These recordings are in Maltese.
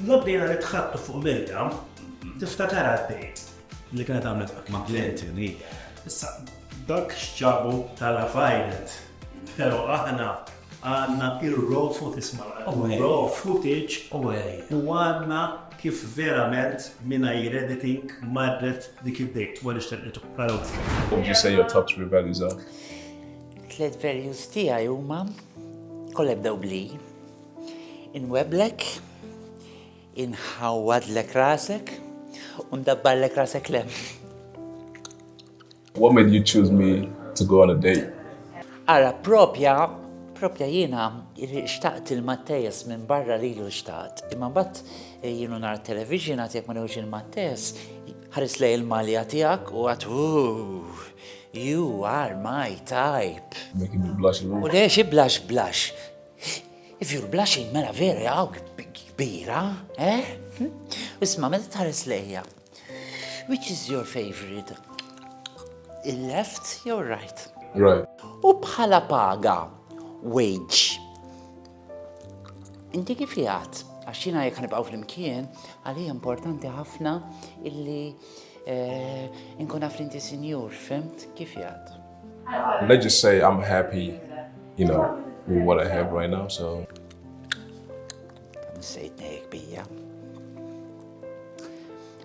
Lobda jena li tħattu fuq Mirjam, tifta tara d-dejt. Li kienet għamlet ma' Clinton, Issa, dak xċabu tal-affajnet. Pero aħna għanna il-raw footage ma' raw footage u għanna kif verament minna jirediting marret dik id-dejt u għalix tal-itu. Would you say your top three values are? Tlet values tijaj huma kollha bdew bli. Inweblek, inħawwadlek rasek, u ndabbarlek rasek l-hemm. What made you choose me to go on a date? Ara, propja, propja jiena xtaqt il-Mattejas minn barra li l xtaqt. Imma bat eh, jienu nar television għat jek ma newġ il-Mattejas, ħaris lej il-malja tijak u għat You are my type. Making me blush. U lex iblax blax. If you're blushing, mela vera għaw kbira, eh? Isma, meta tħares lejja. Which is your favorite? Il-left jew right? Right. U bħala paga, wage. Inti kif jgħat? Għax jina jek nibqaw fl-imkien, għalli importanti ħafna illi eh, nkun għaf l-inti sinjur, fimt? Kif jgħat? Let's just say I'm happy, you know, with what I have right now, so. Nsejtni kbija.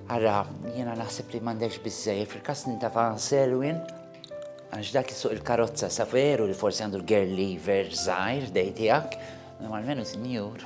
Għara, jena naħseb li mandex bizzej, fil-kas ninta fan Selwin, għax dak suq il-karozza sa veru li forsi għandu l-girl lever zaħir dejtijak, normalmenu sinjur.